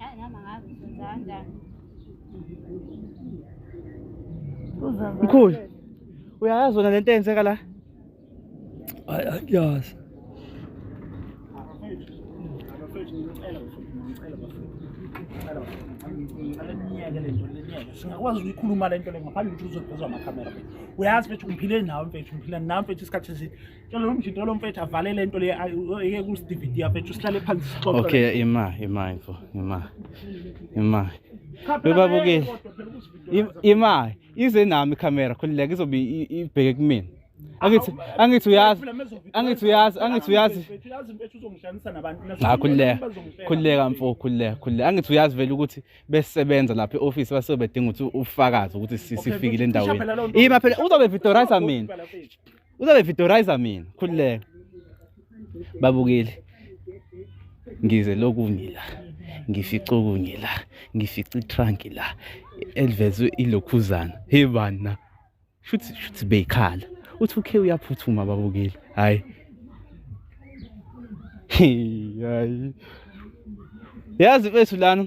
Yazi nami angazi ukuthi wenza kanjani. Uzenza Mkhulu. kahle. Uyayazi wena lento eyenzeka la? Hayi angiyazi. singakwazi ukuyikhuluma le nto le ngaphandle ukuthi uzodozwa amakhamera mfethu uyazi mfethu ngiphile nawe mfethu ngiphila nawe mfethu isikhathi eside Tshela lo mjinto lo mfethu avale le nto le eke ku DVD afethu sihlale phansi sixoxe. Okay ima ima info ima. Ima. Bebabukile. Ima ize nami camera khulileke izobe ibheke kumina. Angithi angithi uyazi angithi uyazi angithi uyazi uyazi mfethu uzongihlanisa nabantu nakhulileka khulileka mfo khulileka khulileka angithi uyazi vele ukuthi besebenza lapha eoffice base bedinga ukuthi ufakaze ukuthi sifikile endaweni ima phela uzobe victorizer mina Uzabe videorizer mina khululeka. Babukeli. Ngize lokhu ngila. Ngifica okunye la. Ngifica itrunk la. Elvezwe ilokhuzana. Hey bana. Shuthi shuthi beyikhala. Uthi ukhe uyaphuthuma babukeli. Hayi. Hayi. Yazi mfethu lana.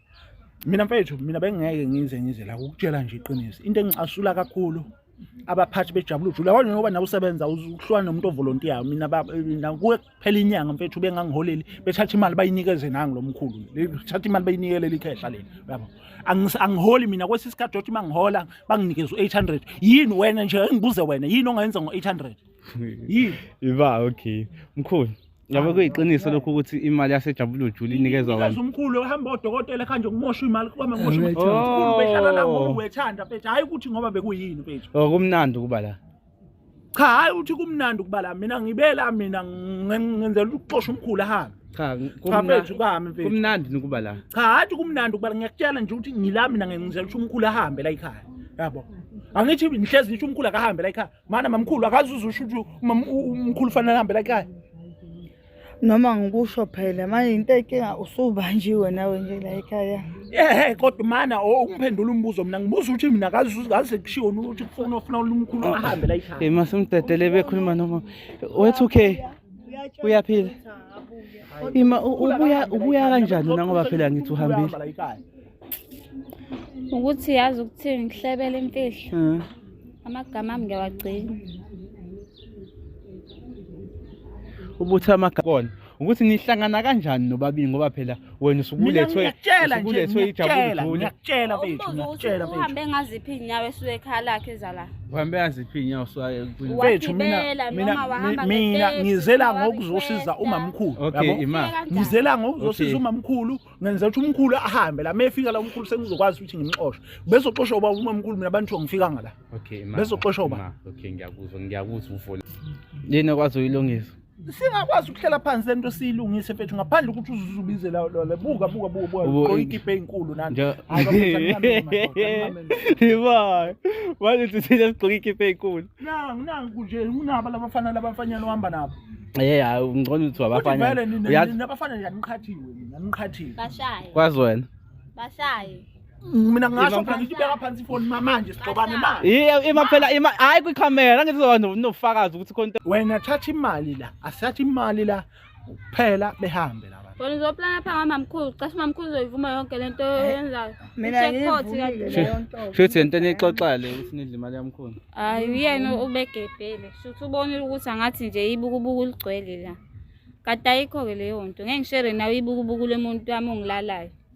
mina mfethu mina bengingeke ngize ngize la ukutshela nje iqiniso into engicasula kakhulu abaphathi bejabula ujule yabona ngoba nawe usebenza uhlwana nomuntu ovolontiya mina kuwe kuphela inyanga mfethu bengangiholeli bethatha imali bayinikeze nangi lo mkhulu bethatha imali bayinikele likhehla leli yabo angiholi mina kwesi sikhathi othi uma ngihola banginikeza u-800 yini wena nje engibuze wena yini ongayenza ngo-800 yini iba okay mkhulu Yabo kuyiqiniso lokho ukuthi imali yasejabulujulu Juli inikezwa abantu. Ikaze umkhulu ehamba odokotela khanje kumosha imali kuba mosha imali. Umkhulu behlala la ngoba wethanda mfethu hayi ukuthi ngoba bekuyini mfethu. Oh kumnandi ukuba la. Cha hayi uthi kumnandi ukuba la mina ngibela mina ngenzela ukuxosha umkhulu ahambe. Cha kumnandi ukami mfethu. Kumnandi ukuba la. Cha hayi kumnandi ukuba ngiyakutshela nje ukuthi ngila mina ngenzela ukuthi umkhulu ahambe la ekhaya. Yabo. Angithi ngihlezi ngisho umkhulu akahambe la ekhaya. Mana mamkhulu akazuza usho ukuthi umam- u- umkhulu fanele ahambe la ekhaya. noma ngikusho phela manje into ekinga usubanjiwe nawe nje la ekhaya Ehhe kodwa mana o- ungiphendula umbuzo mina ngibuza ukuthi mina akazuza kaze kushiwo ukuthi kufuna ufuna umkhulu ahambe la ekhaya. Hey masimdedele bekhuluma noma wethu okay uyaphila. Ima u- ubuya ubuya kanjani na ngoba phela ngithi uhambile. Uhamba la ekhaya. ukuthi yazi ukuthi ngihlebele imfihlo hmm. amagama ami ngiyawagcina ubuthi amagama kona ukuthi nihlangana kanjani nobabili ngoba phela wena usukulethwe usukulethwe ijabula ngiyakutshela bethu ngiyakutshela bethu uhambe ngaziphi inyawo esuke ekhaya lakhe ezala uhambe ngaziphi inyawo esuke ekhaya bethu mina mina mina ngizela ngokuzosiza umamkhulu yabo ngizela ngokuzosiza umamkhulu ngenzela ukuthi umkhulu ahambe la mefika la umkhulu sengizokwazi ukuthi ngimxoshe bezoxosha ubaba uma umkhulu mina abantu ngifika ngala okay ma bezoxosha ubaba okay ngiyakuzwa ngiyakuzwa ufoni yini kwazi uyilungisa singakwazi ukuhlela phansi lento siyilungise mfethu ngaphandle ukuthi uzuzubize la la buka buka buka buka goyikipe enkulu nani hayi bafethu anginamema yebo manje sithina sigqoka ikipe enkulu nangu nangu nje unaba labafana labafanyana ohamba nabo ye hayi ungcono ukuthi wabafanya nabafana yaniqhathiwe mina niqhathiwe bashaye kwazi wena bashaye mina ngasho phela ngithi ubeka phansi ifoni manje sigxobane na ima phela ima hayi kwikhamera ngithi uzokwazi nofakazi ukuthi khona wena thatha imali la asatha imali la ukuphela behambe laba Bona uzoplana pha ngamamkhulu, cishe umamkhulu uzoyivuma yonke lento oyenzayo. Mina Checkpot ngiyivumile kanti. leyo nto. Shuthi yento enixoxale ukuthi nidla imali yamkhulu. Hayi uyena ubegebhele. Shuthi ubonile ukuthi angathi nje ibukubuku ligcwele la. Kade ayikho ke leyo nto. Ngeke ngishere nawe ibukubuku lemuntu wami ongilalayo.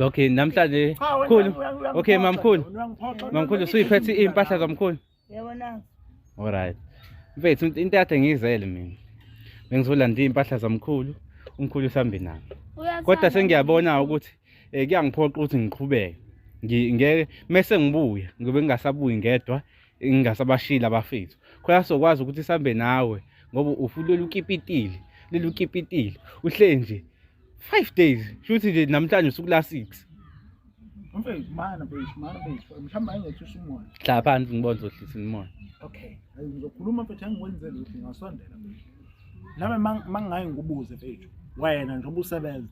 Okay, namhlanje khulu. Okay, mamkhulu. Mamkhulu suyiphethe impahla zamkhulu. Yebo na. All right. Mfethu into yakhe ngizele mina. Bengizolanda impahla zamkhulu, umkhulu usambe nami. Kodwa sengiyabona ukuthi eh kuyangiphoqa ukuthi ngiqhubeke. Ngeke mese ngibuya, ngibe ngingasabuyi ngedwa. ngingasabashili abafethu khona sokwazi ukuthi sambe nawe ngoba ufulele ukipitile leli ukipitile uhle nje 5 days shuthi nje namhlanje usuku la 6 mfethu mana mfethu mana mfethu mhlawumbe ayingethi usumoya hla phansi ngibona uzohlisa umoya okay ngizokhuluma mfethu angikwenze lutho ngasondela mfethu nami mangingayi ngikubuze mfethu wena njengoba usebenza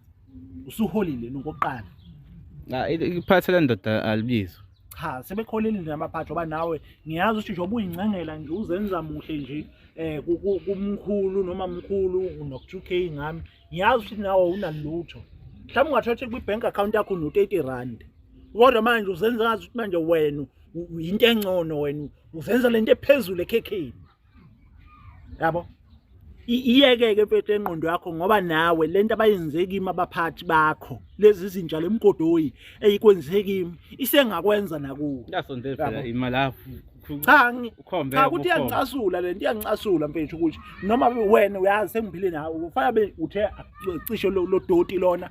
usuholile nokoqala iphathela ndoda alibizwa cha sebekholile namaphathi oba nawe ngiyazi ukuthi njengoba uyincengela nje uzenza muhle nje eh kumkhulu noma mkhulu no2k ngami ngiyazi ukuthi nawe unalutho mhlawumbe ungathatha kwi-bank account yakho no-30 rand kodwa manje uzenza ngazi ukuthi manje wena yinto engcono wena uzenza lento ephezulu ekhekheni yabo iyekeke mfethu engqondo yakho ngoba nawe lento abayenze kimi abaphathi bakho lezi zinja lemgodoyi eyikwenze kimi isengakwenza nakuwe yasondela phela imali yakho cha cha ukuthi iyancasula lento iyancasula mfethu ukuthi noma wena uyazi sengiphile nawe ufana be uthe cishe lodoti lona